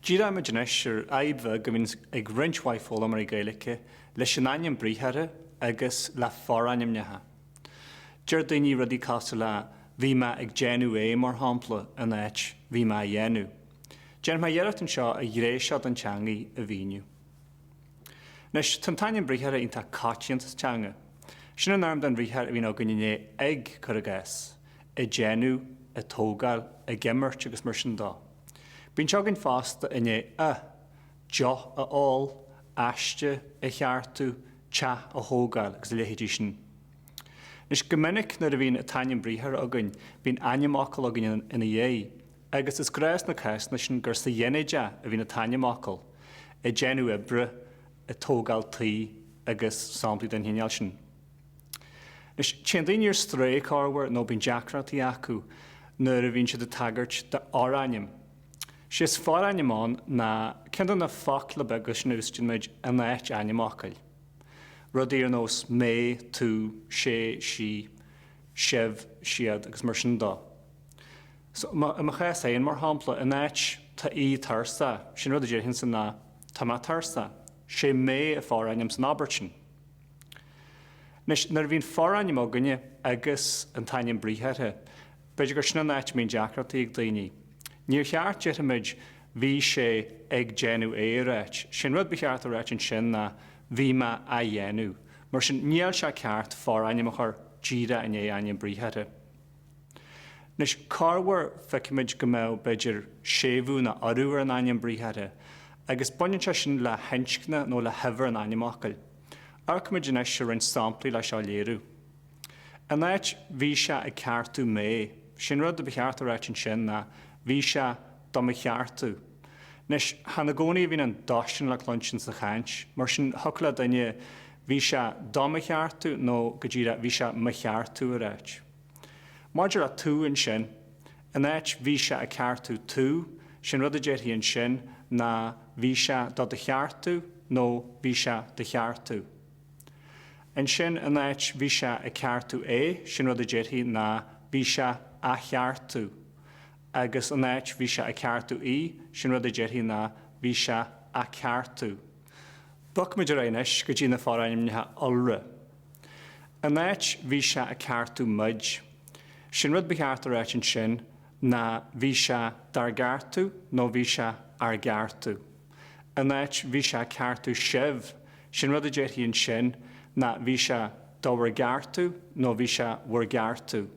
Díreoimid anois ar fhadhb bheag a bhíonn ag roinnt mhaith foghlaimeoirí Gaeilge leis an ainm briathartha agus le forainmneacha. Deir daoine rudaí cosúil le Bhí mé ag déanamh é, mar shampla, in áit Bhí mé á dhéanamh. Déanfaidh mé iarracht anseo an ghné seo den teangaidh a mhíniú. Anois, tá an t-ainm briathartha iontach coitianta sa teanga. Sin an fhoirm den bhriathar a bhíonn againn i ndiaidh ag, cuir i gcás, ag déanamh, ag tógáil, ag imirt agus mar sin dó. Bíonn sé againn fosta i ndiaidh a, deoch a ól, aiste a cheartú, teach a thógáil agus a leithéidí sin. Anois, go minic nuair a bhíonn an t-ainm briathartha againn, bíonn ainmfhocal againn ina dhiaidh. Agus is gnách sna cásanna sin gur sa ghinideach a bhíonn an t-ainmfhocal, ag déanamh oibre, ag tógáil tí agus samplaí den chineál sin. Anois, téann daoine ar strae, corruair, nó bíonn deacrachtaí acu nuair a bhíonn siad ag tagairt do fhorainm. Sé is forainm ann ná ceann de na focla beaga sin a úsáideann muid in áit ainmfhocail. Rudaí ar nós mé, tú, sé, sí, sibh, siad, agus mar sin dó. So, i mo chás féin, mar shampla, in áit Tá Aodh tuirseach, sé an rud a déarfainnse ná Tá mé tuirseach. Sé mé an forainm san abairt sin. Anois, nuair a bhíonn forainm againne agus an t-ainm briathartha, b'fhéidir gur sin an áit a mbíonn deacrachtaí ag daoine. Níor cheart, déarfaimid, Bhí sé ag déanamh é a ráit. Sé an rud ba cheart a ráit ansin ná Bhí mé á dhéanamh. Mar sin, níl sé ceart forainm a chur díreach i ndiaidh ainm briathartha. Anois, corruair, feicimid go mbeadh, b'fhéidir, séimhiú ná urú ar an ainm briathartha, agus baineann sé sin le hinscne nó le huimhir an ainmfhocail. Amharcfaimid anois ar roinnt samplaí le seo a léiriú. In áit Bhí sé ag ceartú mé. Sé an rud a ba cheart a ráit ansin ná Bhí sé do mo cheartú. Anois, chan i gcónaí a bhíonn an do sin le cluinstin sa chaint. Mar sin, thiocfadh le duine Bhí sé do mo cheartú nó, go díreach, Bhí sé mo cheartú a ráit. Maidir le tú ansin, in áit bhí sé ag ceartú tú, sé'n rud a déarfaí ansin ná bhí sé do do cheartú nó bhí sé do cheartú. Ansin, in áit bhí sé ag ceartú é, sé'n rud a déarfaí ná bhí sé á cheartú. Agus in áit bhí sé ag ceartú í, sé'n rud a déarfaí ná bhí sé á ceartú. Bogfaimid ar aghaidh anois go dtí na forainmneacha iolra. In áit bhí sé ag ceartú muid. Sé'n rud ba cheart a ráit ansin ná bhí sé dár gceartú nó bhí sé ár gceartú. In áit bhí sé ag ceartú sibh, sé'n rud a déarfaí ansin ná bhí sé do bhur gceartú nó bhí sé bhur gceartú.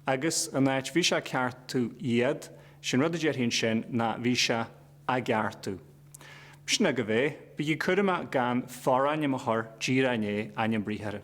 Agus in áit bhí sé ag ceartú iad, sé'n rud a déarfaí ansin ná bhí sé a gceartú. Sin agaibh é. Bígí cúramach gan forainm a chur díreach i ndiaidh ainm briathartha.